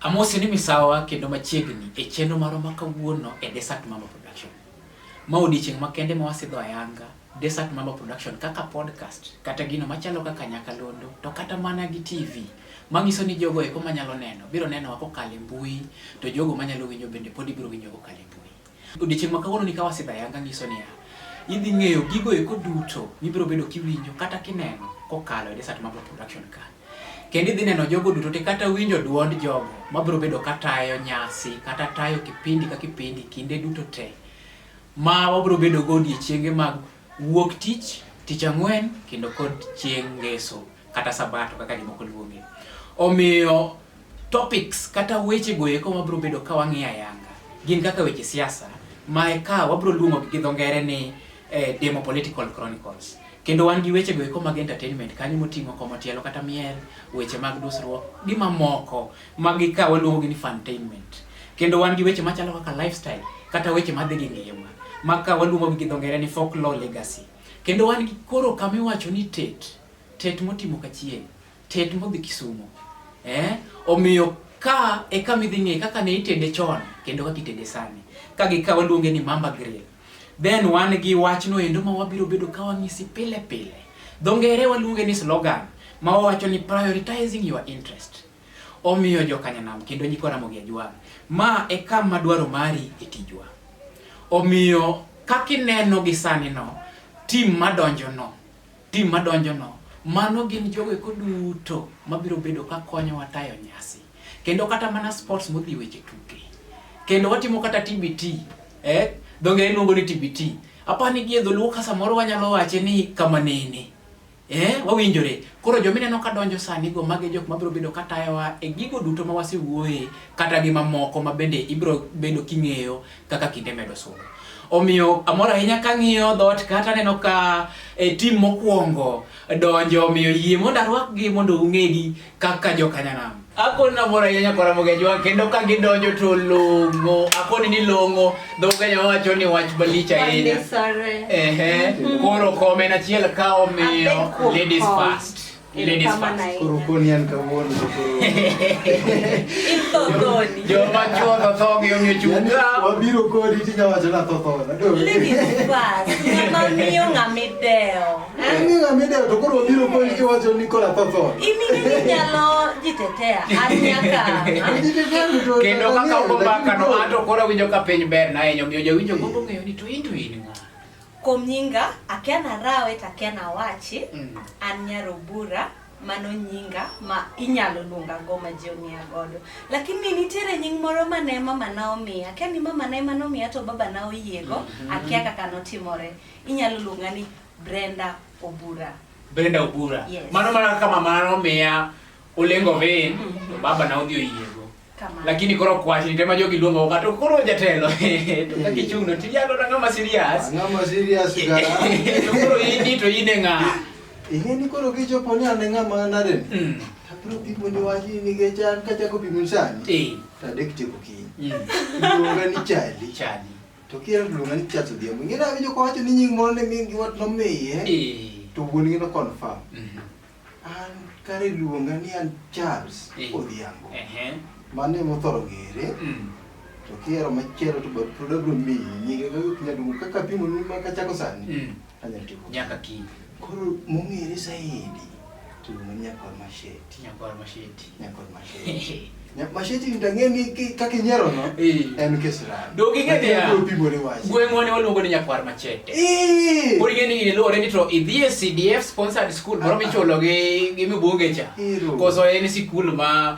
Amosi ni misawa kendo machiegni e chenro marwa ma kawuono e Desert Mama Production. Ma odiechieng' makende ma wasidho ayanga Desert Mama Production kaka podcast kata gino machalo kaka nyakalondo to kata mana gi TV manyiso ni jogo eko manyalo neno biro nenowa kokalo e mbui to jogo manyalo winjo bende pod ibiro winjo kokalo e mbui. Odiechieng' ma kawuono ni ka wasidha yanga nyiso niya, idhi ng'eyo gigo eko duto mibiro bedo kiwinjo kata kineno kokalo e Desert Mambo Production ka. Kendo idhi neno jogo duto te kata winjo duond jogo mabiro bedo ka tayo nyasi kata tayo kipindi ka kipindi kinde duto te ma wabiro bedo go odiechienge mag Wuok tich, tich ang'wen, kendo kod chieng' ngeso kata sabato kaka jomoko luonge. Omiyo topics kata weche goeko wabro bedo ka wang'iyo ayanga gin kaka weche siasa ma ka wabro luongo gi dho ngere ni eh, demo political chronicles kendo wan gi weche goeko mag entertainment kanyo moting'o komotielo kata miel weche mag dusruok gi mamoko Magi ka waluongo gi ni funtainment. Kendo wan gi weche machalo kaka lifestyle kata weche madhi gi ngima. Ma ka waluongo gi dho ngere ni folklore legacy. Kendo wan gi koro kama iwacho ni tet. Tet motimo kachiel. Tet modhi Kisumo. Eh? Omiyo ka e kama idhi ng'e kaka ne itede chon kendo kaka itede sani. Ka gi ka waluonge ni Mamba Grill. Then wan gi wachno endo ma wabiro bedo ka wang'isi pile pile. Dho ngere waluonge ni slogan ma wawacho ni prioritizing your interest. Omiyo joka Nyanam kendo nyikwa Ramogi Ajwang', ma e kama dwaro mari e tijwa. Omiyo kaka ineno gi sani no, tim madonjo no, tim madonjo no, mano gin jogo eko duto mabiro bedo ka konyowa tayo nyasi. Kendo kata mana sports modhi weche tuke. Kendo watimo kata TBT, eh? Dho ngere luongo ni TBT. Apani gi e dholuo ka samoro wanyalo wache ni kamanene. Eh, wawinjore. Koro joma ineno ka donjo sani go magi jok mabiro bedo ka tayowa e gigo duto ma wasewuoye kata gi mamoko ma bende ibiro bedo king'eyo kaka kinde medo sudo. Omiyo amor ahinya ka ng'iyo dhoot kata neno ka e, tim mokwongo donjo omiyo yie mondo arwakgi mondo ung'egi kaka jokanyanam akoni namor ahinya kwa Ramogenywa kendo ka gidonjo to long'o akoni ni long'o dhokenya wacho ni wach malich ahinya ehe koro komen achiel ka omiyo ladies first ladies first koro koni an kawuono joma chuo to tho gi omiyo chunga wabiro kodi tinya wacho na tho tho ladies first ng'ama miyo ng'ama idewo kendo kaka ogombakano ato koro winjo ka piny ber na enyo miyo jawinjo gombo ng'eyo ni to in to in ng'a kuom nyinga akia narawe to akia nawachi mm. an nyarobura mano nyinga ma inyalo luonga go ma ji ong'eya godo lakini nitiere nying moro mane mamana omiya akia ni mamana ema nomiya to babana oyiego mm-hmm. akia kaka notimore Inyalo luonga ni Brenda Obura. Brenda Obura. Yes. Mano mana kaka mama nomiya Olengo Vein, mm -hmm. to baba na odhi oyiego. Kamano. Lakini koro kwach ni tema jogi luongo ka to koro jatelo. to kaka ichung'no ti yalo na ng'ama serious. Ng'ama serious ga. to koro ini to ine ng'a. Ihe ni koro kichopo ni ane ng'ama nade. Mm. Abiro pimo ni wachi nikech an kachako pimo sani. Eh. Tadek tieko kiny. Mm. Iluonga ni Charlie. Charlie. To kier luonga ni Charles Odhiambo. Ng'e nawinjo kowacho ni nying moro ne min gi wat nomiye. Eh. To wuon gi no confirm. Mhm. An kare luonga ni an Charles Eh. Odhiambo. Ehe. Mano ema othoro ng'ere. Mm. To kiero machielo to bad pod abro miyi nyinge kaka inyalo luongo kaka apimo ni ma kachako sani. Mm. nyaka kiny. Koro mong'ere saidi to iluongo nyakor masheti. Nyakor masheti. Nyakor masheti. Masheti ndang'e ni kaka inyiero no en kisirani. Dog ing'e niya gweng'wa ne waluongo ni nyakwar machete. Pod ing'e ni iluwore ni to idhi e CDF sponsored school moro michulo gi gi mibonge cha. Koso en sikul ma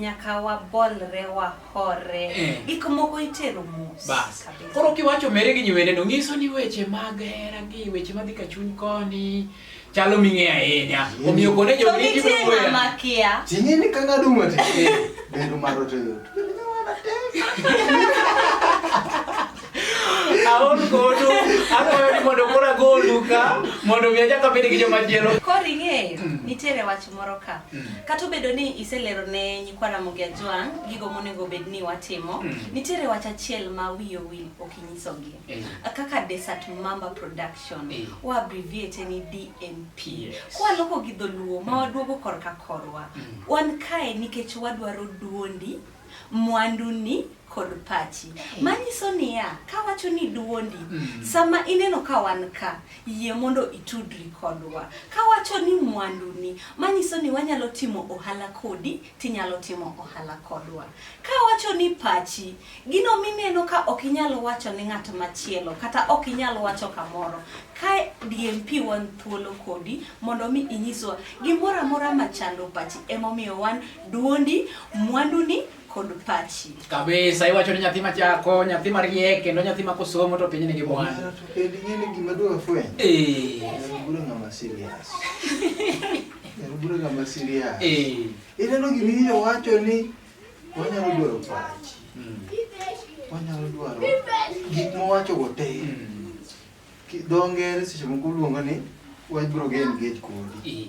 nyaka wabolre wahore eh. gik moko itero mos bas koro kiwacho mere gi nyiwene no nyiso ni weche mag hera gi weche madhi ka chuny koni chalo ming'e ahinya mm. omiyo kone jo ni gibro weya makia tingi ni kanga duma te eh, bedo maro to yot aol kodu akwayo ni mondo kora gol duka mondo mi achak abed gi joma chielo koro ing'eyo mm. nitiere wach moro ka mm. kata obedo ni iselero ne nyikwa Ramogi Ajwang' gigo monego bed ni watimo mm. nitiere wach achiel ma wiye owil ok inyisogi eh. kaka Desert Mamba Production eh. wa abbreviate ni DMP kwaloko gi dholuo ma waduogo korka korwa mm. wan kae nikech wadwaro duondi mwanduni kod pachi eh. manyiso niya kawacho ni duondi mm. sama ineno ka wan ka yie mondo itudri kodwa kawacho ni mwanduni manyiso ni wanyalo timo ohala kodi tinyalo timo ohala kodwa kawacho ni pachi gino mineno ka ok inyalo wacho ni ng'at machielo kata ok inyalo wacho kamoro ka DMP wan thuolo kodi mondo mi inyiswa gimoro amora machando pachi emomiyo wan Duondi, mwanduni kod pachi. Kabisa, iwacho ni nyathi machako, nyathi mariek kendo nyathi ma kosomo to piny nigi mwandu. Kendo ing'eni gima dwa fweny. Eh. Bura ng'ama serious. Bura ng'ama serious. Eh. Ineno gima iye wacho ni wanyalo dwaro pachi. Hmm. Wanyalo dwaro gik mowacho go te. Hmm. Dho ngere seche moko luongo ni wabiro gen gate kodi. Eh.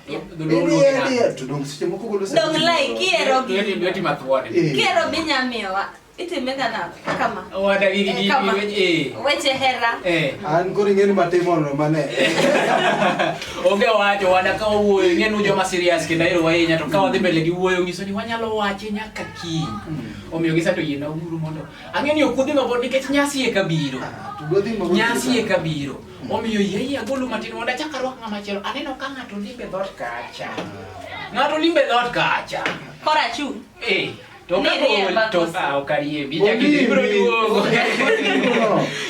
onge wacho wada ka wawuoyo ing'e nu joma serious kendo ahero ahinya to ka wadhi mbele gi wuoyo nyiso ni wanyalo wache nyaka kiny hmm. omiyo gisa to yiena uru mondo ang'e ni okudhi mabor nikech nyasi e kabiro ah, nyasi e kabiro Omiyo yie yie agolo matin mondo achak arwak ng'ama chielo. Aneno ka ng'ato limbe dhot kacha. Ng'ato limbe dhot kacha. Kora chu. Eh. To ka gol to ah okarie bi ja kiti bro duogo.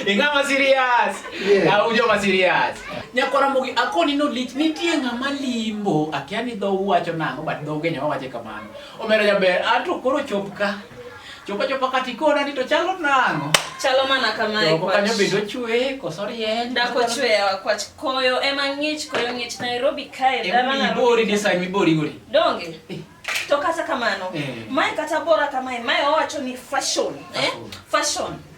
Ingama serious. Au jo ma serious. Nyakwara mogi akoni no lich nitie ng'ama limbo akia ni dho uwacho nang'o but dho Kenya wawache kamano. Omera jaber ato koro chop ka. Chopo chopo kati kona ni to chalo nango. Chalo mana kama e kwa. Kanyo bedo chwe koso rieny. Da ko chwe wa kwa koyo ema ngich koyo ngich Nairobi kae da mana. Emi bori ni sai mi bori gori. Donge. Eh. To kata kamano. Eh. Mai kata bora kama mai owacho ni fashion. Eh? Fashion.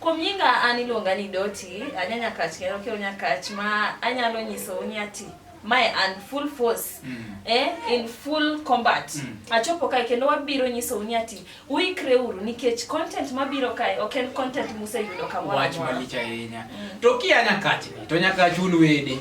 Kuom nyinga an iluonga ni Doti, anya Nyakach kendo kiro Nyakach ma anyalo nyiso ni ati mae an full force mm. eh, in full combat mm. achopo kae kendo wabiro nyiso ni ati uikre uru nikech content mabiro kae ok en content museyudo kamoro wach malich ahinya mm. to kia Nyakach to Nyakach un wede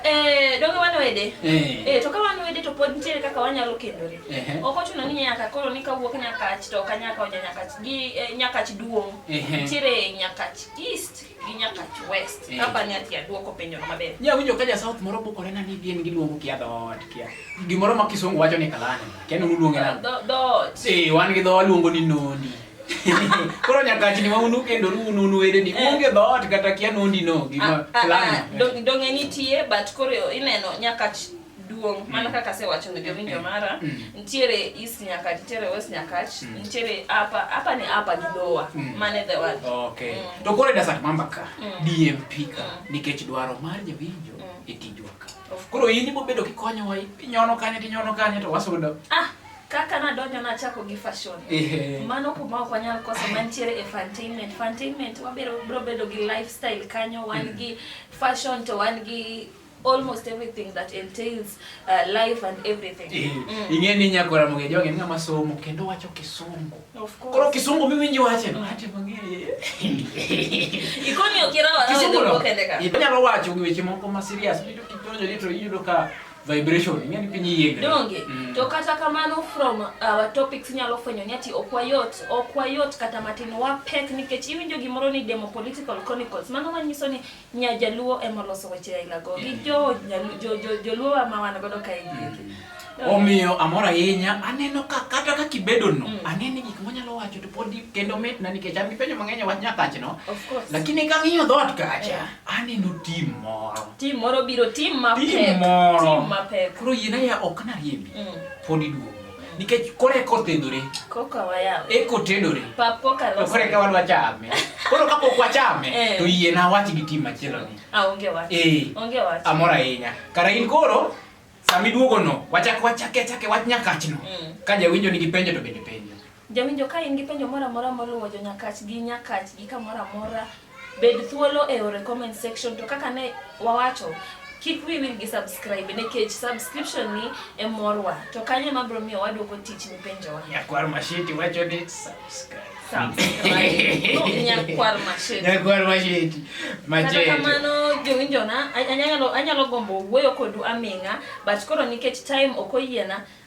eh, donge wan wede eh. Eh, to ka wan wede to pod nitiere kaka wanyalo kendore Ehe. Ok ochuno ni nyaka koro ni kawuok Nyakach to ok anyaka oja Nyakach gi eh, Nyakach duong'. Ehe. Nitiere Nyakach East gi Nyakach West. Ehe. Kapa ni ati aduoko penjono maber. Nya winjo ka ja South moro bukore na ni gin giluongo kia dhoot kia. Gimoro ma kisungu wacho ni kalani. Kia nunu luonge nani? Dho- Dhoot. Eh, wan gi dhowa luongo ni nondi. Koro nyakachni ma unu kendo unu unu wede ni Eh. onge dhoot kata kia nondi no gima Ah, ah, ah, kalani. dong- Donge nitie but koro ineno Nyakach duong' mana mm. kaka asewacho ni jowinjo mm. mara mm. nitiere east nyaka nitiere west nyakach nitiere hapa hapa ni hapa ni lower mane the word okay to kore da sat mamba ka DMP ka nikech dwaro mar jowinjo e tijwa ka koro in ibo bedo kikonyowa inyono kanye tinyono kanye to wasudo ah kaka nadonjo nachako gi fashion mano kuma ok wanyal koso mantiere e fantainment fantainment wabiro biro bedo gi lifestyle kanyo wan gi fashion to wan gi almost everything that entails uh, life and everything. Eh, mm. Ing'e ni nyako Ramogi Ajwang' en ng'ama somo kendo wacho kisungu. Of course. Koro kisungu mimi nje wache no hata mang'eye. Ikoni okira wa kisungu no. Inyalo wacho gi weche moko ma serious. Iyudo kitonjo litro iyudo ka vibration ing'e ni piny yiengre. Donge. Mm. To kata kamano from our uh, topics nyalo fwenyo ni ati ok wayot, ok wayot kata matin wapek nikech iwinjo gimoro ni demo political chronicles. Mano manyiso ni Nya jaluo ema oloso weche aila go gi jo joluo ma wan godo kae gieki. Mm. Omiyo amor ahinya aneno ka kata ka kibedo no mm. aneno gik monyalo wacho to pod kendo mit na nikech an gipenjo mang'eny e wach nyakach no. Lakini ka ng'iyo dhoot kacha aneno tim moro. Tim moro biro tim mapek. Tim moro. Tim mapek. Koro yina ya ok na riembi. Mm. Pod iduogo. nikech koro eka otedore eka otedore to koro eka wadwa chame koro kapok wachame eh. to yie na wach gi tim machielo ni ah, eh. amor ahinya kara in koro sama iduogo no wachak wachake achake wach nyakach no mm. ka jawinjo nigi penjo to bende penjo jawinjo ka in gi penjo moro amora moluwo jo nyakach gi nyakach gi kamoro amora Bed thuolo e ore comment section to kaka ne wawacho kik wi wil gi subscribe nikech subscription ni e morwa to kanyo ema biro miyo waduoko tich ni penjowa. Nyakwar Mashiti wacho ni subscribe. Nyakwar Mashiti. Nyakwar Mashiti. Machete. Kata kamano jowinjona anyalo anyalo gombo wuoyo kodu aming'a but koro nikech time ok oyiena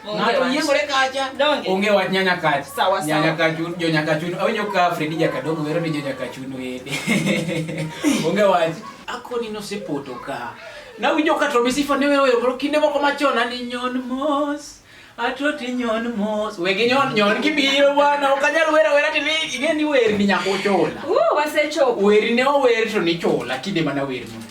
Ng'ato yiengore kacha. Donge. Onge wach nyanya kacha. Sawa sawa. Nyanya kachun, jo nyanya kachun. Awinjo ka Fredi Jakadongo wero ni jo nyanya kachun wede. Onge wach. Akoni nosepoto ka. Nawinjo ka Tommy Sifa ne wero wero kinde moko machon ani nyon mos. Atoti nyon mos. Wegi nyon nyon kibiro bwana. Okanyal wera wera tini ing'e ni wer ni nyako chola. Uh, wasechopo. Weri ne ower to ni chola kinde mana wer ni.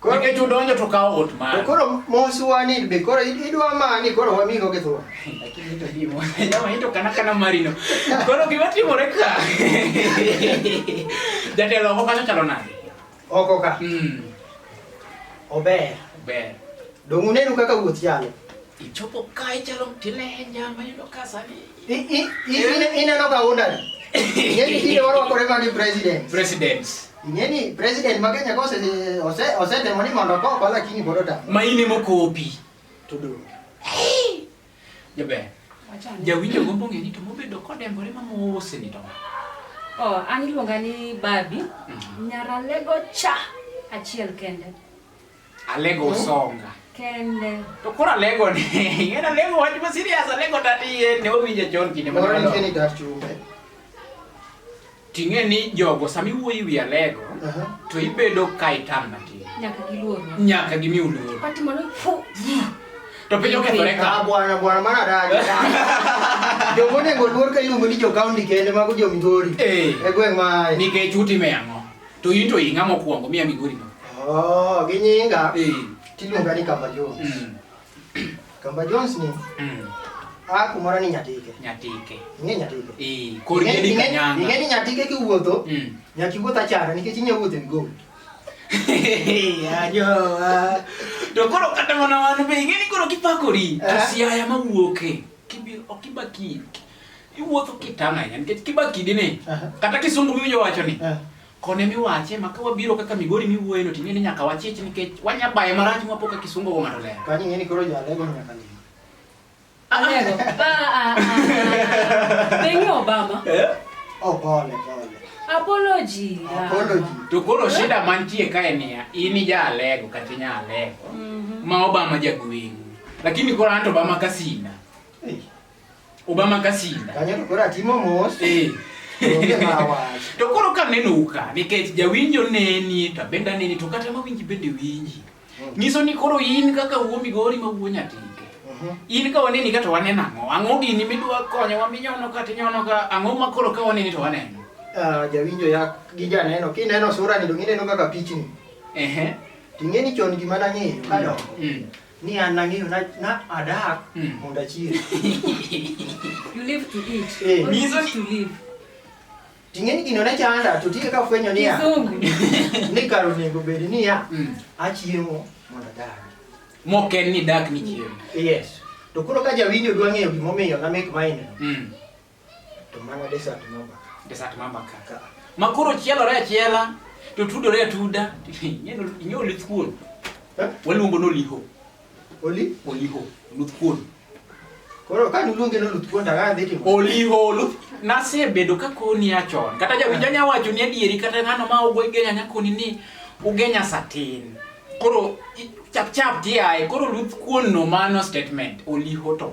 Koro nikech udonjo to kawo ot mare. To koro mosuwa ni be koro idwa mani koro wami go githuwa. Lakini to dimo. Jamaa hito kana kana marino. Koro gima timore ka. Jatelo oko kanyo chalo nade? Oko ka. Mm. Ober. Ober. Dongu nenu kaka wuoth chalo. Ichopo kae chalo mtile henja mayudo ka sani. Ineno ka undani. Ing'eni tinde warwakore magi president. President. Ing'eni president ma Kenya kose ose osetemo ni mondo koko lakini pod otamo. Ma in ema okopi. To do. Jaber. Jawinjo gombo ng'e ni to mobedo kodembore ma mose ni to. Oh, an iluonga ni Babi. Mhm. Nyaralego cha achiel kende. Alego hmm? songa. Kende. To kora lego ni. Ngena lego wach ma serious alego tati ye ne owinje chon kinde ma. Ora ngeni dar chumbe. Ting'e ni jogo sami wuoyi wi alego uh -huh. to ibedo ka itam na ti. Nyaka giluor. Nyaka gimi uluor. Pati mano fu. To piny okethore ka. Ah, bwana bwana mana daje. Jogo nego luor ka iluongo ni jo county kende mago jo Migori. Eh. E gweng' ma. Nikech uti me ang'o? To in to ing'a mokwongo miya migori no. Oh, gi nyinga. Eh. Tiluonga ni Kamba Jones. Mm. Kamba Jones ni Mm. a kumoro ni Nyatike. Nyatike. Ing'e Nyatike? Eh, kor Ing'e- gedi ing'e- kanyanga. Ing'e ni Nyatike kiwuotho, Mm. nyaka iwuoth achara nikech inyalo wuotho e migori. Ajowa. To koro kata mana wan be ing'e ni koro kipakori to Eh. siaya mawuoke. Kibiro ok kibaki. Iwuotho kitang' ahinya nikech kibaki dine. Kata kisungu miwinjo wacho ni. Kone miwache ma ka wabiro kaka Migori miwuoye no ting'e ni nyaka wachich nikech wanya baye marach mwa poka kisungu go ng'ato lero. Kanyo ng'eni koro jale go nyaka ni. Alego. Ah ah. Bengi Obama. Eh? Oh pole pole. Apology. Apology. To koro shida mantie kae niya, in ija alego kata inya alego. Mm -hmm. Ma Obama jagweng'u. Lakini kora anto bama kasina. Hey. Obama kasina. Kanya to kora timo mos. Eh. to koro ka neno ka nikech jawinjo neni to benda neni to kata ma winji bende winji mm. nyiso ni koro in kaka wuo migori ma wuo nyatike mm-hmm. in ka waneni ka to waneno ang'o ang'o gini midwa konyo wa minyono ka tinyono ka ang'o ma koro ka waneni to waneno uh, jawinjo ya gi janeno kineno sura ni dong ineno kaka pichni ehe uh -huh. Ting'eni chon gima nang'eyo kadongo. Mm. Ni an nang'eyo na, na adak Hmm. mondo achiem. You live to eat. Eh, Or mizo- eat to live. Ting'eni gino ne chanda to tinde kafwenyo niya Kizungu. ni kar onego bed niya Mm. achiemo mondo adag. Mok en ni dak ni chiemo. Yes. To koro ka jawinjo dwa ng'eyo gimomiyo na make mine no. Mm. To mana desert mamba. Desert mamba kaka. Makoro chielore achiela to tudore atuda. Nyeno inyo lith kuon. Eh? Waluongo no liho. Oli? Oliho. Luth kuon. Koro ka nuluonge no luth kuon daga dhi timo. Oliho luth nasebedo ka koni achon. Kata jawinjo nya wacho ni adieri kata ng'ano ma ogwe genya nya koni ni ugenya satin. Koro chap chap tiaye koro luth kuon no mano statement oliho to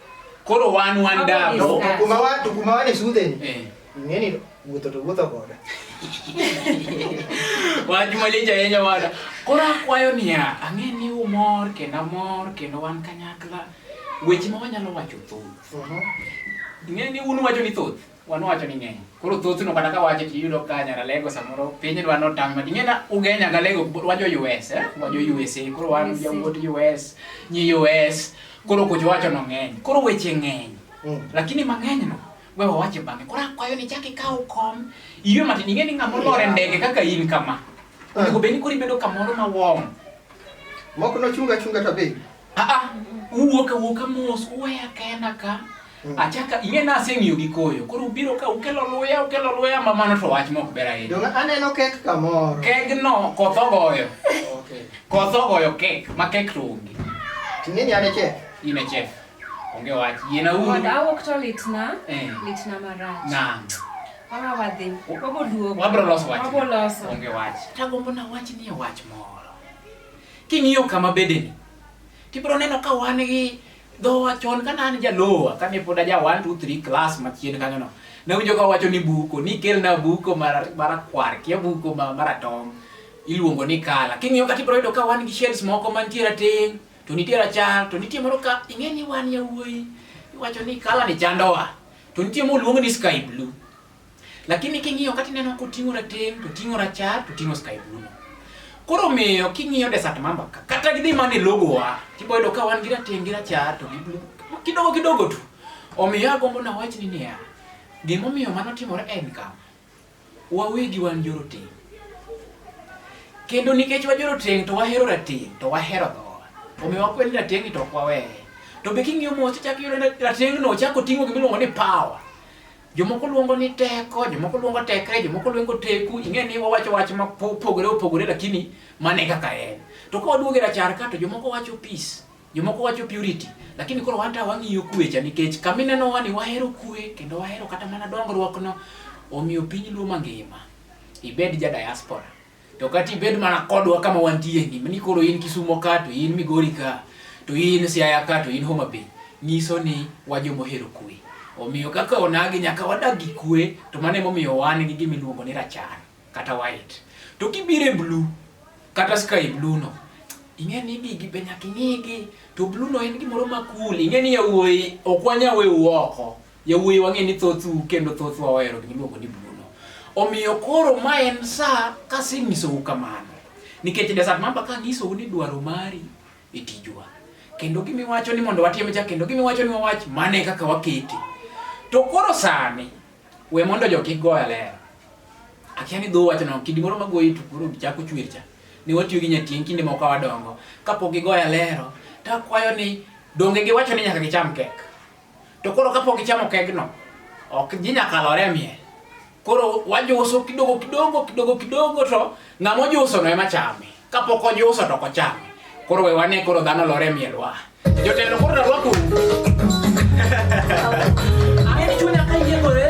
Koro wan wan dabo. Kuma wa to kuma wa ne su den. Eh. Ngeni wuto to wuto goda. Wach malicha yenya wada. Koro akwayo niya, ang'e ni umor kendo amor kendo wan kanyakla. Weche ma wanyalo wacho thoth. Uh-huh. Ng'e ni un wacho ni thoth. Wanwacho ni ng'eny. Koro thothno kata ka wache tiyudo ka nyaralego samoro piny dwa notang' ma ting'ena uge nyagalego wajo US eh? wajo USA koro wan jawuot US nyi US koro kucho wacho no ng'eny koro weche ng'eny mm. lakini mang'eny no we wawache bang'e koro akwayo ni chak ikaw kom iywe matin ing'e ni ng'ama olor e ndege kaka in kama ah. onego bed ni koro ibedo kamoro ma wong' mok nochunga chunga to be Ah ah, uwuok awuok mos, uweya kenda ka. Mm. Achaka ing'e na aseng'iyo gi koyo. Koro ubiro ka ukelo luya, ukelo luya ma mano to wach mok ber ahinya. Donge aneno kek kamoro. Kek no koth ogoyo. Okay. Koth ogoyo kek, ma kek to onge. Ting'eni ane chef. In a chef. Onge wach. Yena uru. Wanda awuok to litna. Eh. Litna marach. Na. Awa wadhi. Waboduogo. Wabro loso wach. Wabro loso. Onge wach. Tagombo na wach ni wach moro. King'iyo kama bedeni, tibiro neno ka wan gi dhowa chon ka an jalowa kane pod aja 1 2 3 class machien kanyo no ne winjo ka wacho ni buko ni kelna buko marakwar kia buko maratong iluongo ni kala king'iyo kata ibiro yudo ka wan gi shells moko mantie rateng to nitie rachar to nitie moro ka ing'e ni wan yawuoyi iwacho ni kala ni chandowa to nitie moluong ni sky blue Lakini king'iyo kata ineno koting'o rateng' to ting'o rachar to ting'o sky blue. Koro miyo king'iyo desert mamba ka kata gidhi mana e logo wa tibo yudo ka wan gi rateng' gi rachar to gi blue kidogo kidogo tu. Omiyo agombo na wach ni niya, gimomiyo mano timore en kama. Wawegi wan joroteng'. Kendo nikech wajoroteng' to wahero rateng' to wahero dhowa. Omiyo wakwed ni rateng'ni to ok waweye. To be king'iyo mos ichak iyudo ni rateng'no ochako ting'o gimiluongo ni power. Jomoko luongo ni teko, jomoko luongo tekre, jomoko luongo teku. Ing'e ni wawacho wach ma pogore opogore lakini mane kaka en. To ka waduogo e rachar ka to jomoko wacho peace, jomoko wacho purity. Lakini koro wan ta wang'iyo kwe cha nikech kama ineno wani wahero kwe kendo wahero kata mana dongruok no. Omiyo piny Luo mangima, ibed ja diaspora, To kata ibed mana kodwa kama wantie ni, ni koro in Kisumo ka to in Migori ka to in Siaya ka to in Homa Bay, nyiso ni wajo mohero kwe. Omiyo kaka onagi nyaka wadag gi kwe to mano emomiyo wan gi gima iluongo ni rachar kata white. To kibire blue kata sky blue no, ing'e ni gigi be nyaka ing'igi to blue no en gimoro ma cool. Ing'e ni yawuoyi ok wanyawe uoko. Yawuoyi wang'e ni thothu kendo thothwa wahero gima iluongo ni Bruno. Omiyo koro ma en sa kasenyisou kamano. Nikech desat mamba kanyisou ni dwaro mari e tijwa. Kendo gima iwacho ni mondo watim cha kendo gima iwacho ni wawach mane kaka wakete. To koro sani we mondo jo kik goya ler. Akia ni dho wacho no kidi moro magoyi to koro chako chwer cha. Ne watiyo gi nyatieng kinde moko wadongo. Kapok gigoya lero, takwayo ni donge giwacho ni nyaka gicham kek. To koro kapok ichamo kegno, ok ji nyaka lore e miel. Koro wajuso kidogo kidogo kidogo kidogo to ng'ama ojuso no ema chame. Kapok ojuso to ok ochame. Koro we wane koro dhano lore e miel wa. Jotelo koro narwaku. Ae chunya ka yie gore.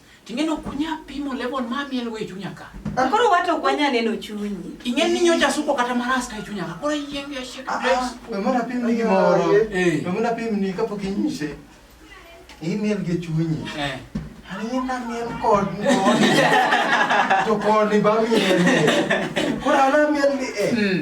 Ting'eno kunya pimo level ma miel we chunya ka. Ah. Koro wato kwanya neno chunyi. Ingen ni nyocha suko kata maras ka chunya ka. Koro yienge ya shake place. Ah, ah. We mona pim ni gimoro. Eh. We mona pim ni kapok inyise. Iyi miel gi chunyi. Eh. Ani na miel kod ni. To kod ni ba miel. Koro ana miel ni eh. Hmm.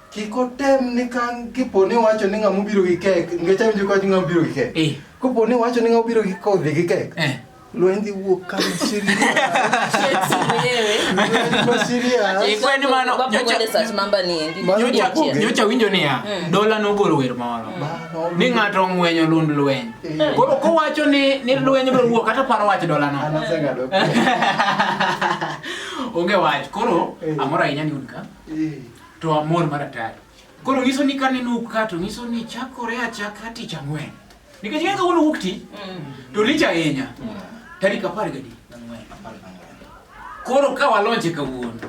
Kik otem ni ka kipo ni wacho ni ng'ama obiro gi kek, nikech awinjo ka wacho ng'ama obiro gi kek. Eh. Kopo ni wacho ni ng'ama obiro gi kodhi gi kek. Eh. Lweny dhi wuok ka Syria. Shakes mwenyewe. Lweny Syria. Ikwe ni mano, Baba nyocha- Wende Sat Mamba ni endi. Mano Nyocha- Nyocha- nyocha winjo niya dola nogolo wer moro Mano. ni ng'ato ong'wenyo lund lweny Eh. koro kowacho ni ni lweny biro wuok kata paro wach dolano Anaseng'ado. onge wach koro Eh. amoro ahinya ni un ka Eh. to amor mar atari. Koro nyiso ni kane ne ka to nyiso ni chakore achaka tich ang'wen. Nikech ng'e kawuono wuok ti mm. to lich ahinya mm. tarik apar gadi. Koro ka walonje kawuono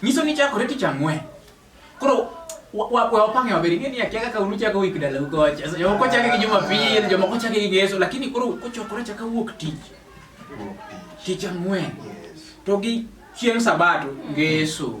nyiso ni chakore tich ang'wen. Koro wapange maber ing'e ni akia kaka unuchako wik dalau kocha. Jomoko chake gi Jumapil, jomoko chake gi Ngeso lakini koro kochokore chaka wuok tich. Tich ang'wen. To gi chieng' Sabato Ngeso.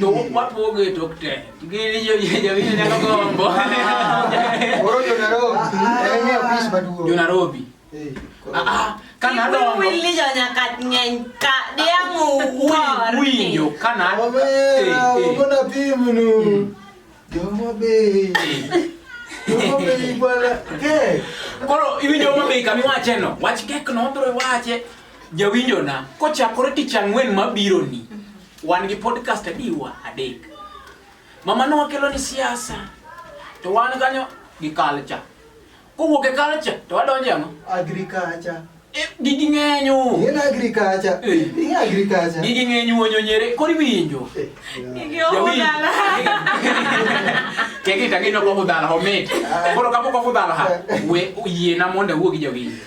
To wapogo e tok te. Gini jo jawinjo nyalo gombo. Oro jo Nairobi. En e ofis maduong'. Jo Nairobi. Ah ah. Kana dongo. Wili jo nyaka ng'eny ka diangu wor. Winjo kana. Omera, ogona pim nu. Joma be. Joma be bwana. Ke. Koro iwinjo ma be kami wache no. Wach kek no bro wache. Jawinjo na kochakore tich ang'wen mabiro ni. Wan gi podcast adiwa adek. Mama no kelo ni siasa. To wan kanyo gi culture. Kowuok e culture to wadonje ano? Agriculture. E, gigi ng'enyo. Gin agriculture. Eh. Gin agriculture. Gigi ng'enyo wonyo nyere. Kori winjo. Eh, gigi ohudala. Kegi tagi no kohudala homit. Ah. Koro kapo kohudala ha. We yie na monde wuo gi jogi.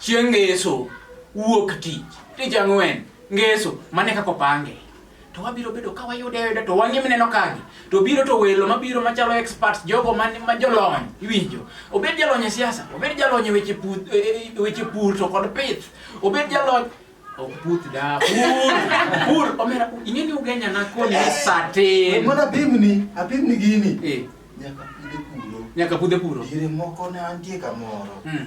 Chieng' Ngeso, wuok tich, tich ang'wen, Ngeso, mane kaka opange. To wabiro bedo ka wayude ayuda to wang'e mineno kagi. To biro to welo mabiro machalo experts jogo man ma jolony iwinjo. Obed jalony e siasa, obed jalony e weche pur, e, e, e weche pur to kod pith, obed jalony ok puth da pur pur omera ing'e ni ugenya na koni ni sate mana pimni apimni gini eh nyaka pude puro nyaka pude puro gire moko ne antie kamoro mm.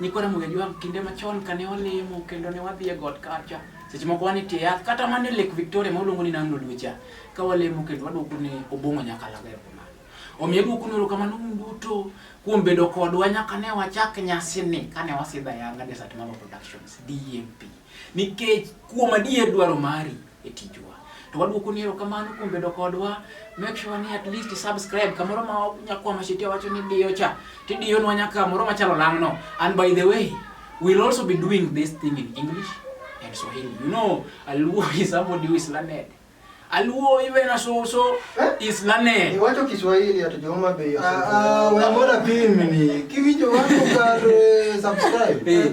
Nyikwa Ramogi Ajwang' kinde machon kane walemo kendo ne wadhi e got kacha, seche moko wan e tie yath kata mana e Lake Victoria ma oluongo ni Nam Lolwe cha, ka walemo kendo waduoko ne Obong'o Nyakalago erokamano. Omiyo aduoko nu erokamano un duto kuom bedo kodwa nyaka ne wachak nyasini kane wasidho ayanga Desert Mama Productions, DMP. Nikech kuom adier dwaro mari e tijwa. To waduoko ni erokamano kuom bedo kodwa. Make sure ni at least subscribe kamoro ma nyakwa mashiti wacho ni diyo cha. Tidiyo nwa nyaka moro machalo lang'no. And by the way, we'll also be doing this thing in English and Swahili. You know, Aluo is somebody who is learned. Aluo even as also eh? is learned. Iwacho Kiswahili hata Jehova bei. Ah, ah, wewe mbona pimi ni? Kiwicho wako kare subscribe. Eh.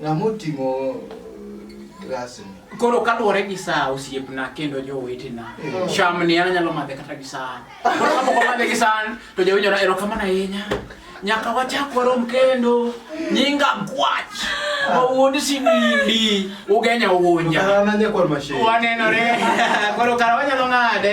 Ng'ama oting'o glasni? Koro kaluwore gi saa osiepna kendo jowetena, eh. cham ni an anyalo madhe kata gi san. Koro kapok omadhe gi san to jawinjona erokamano ahinya. Nyaka wachak warom kendo nyinga gwach mawuod sinindi ugenya uwunja. Wanenore. Koro kara wanyalo ng'ade.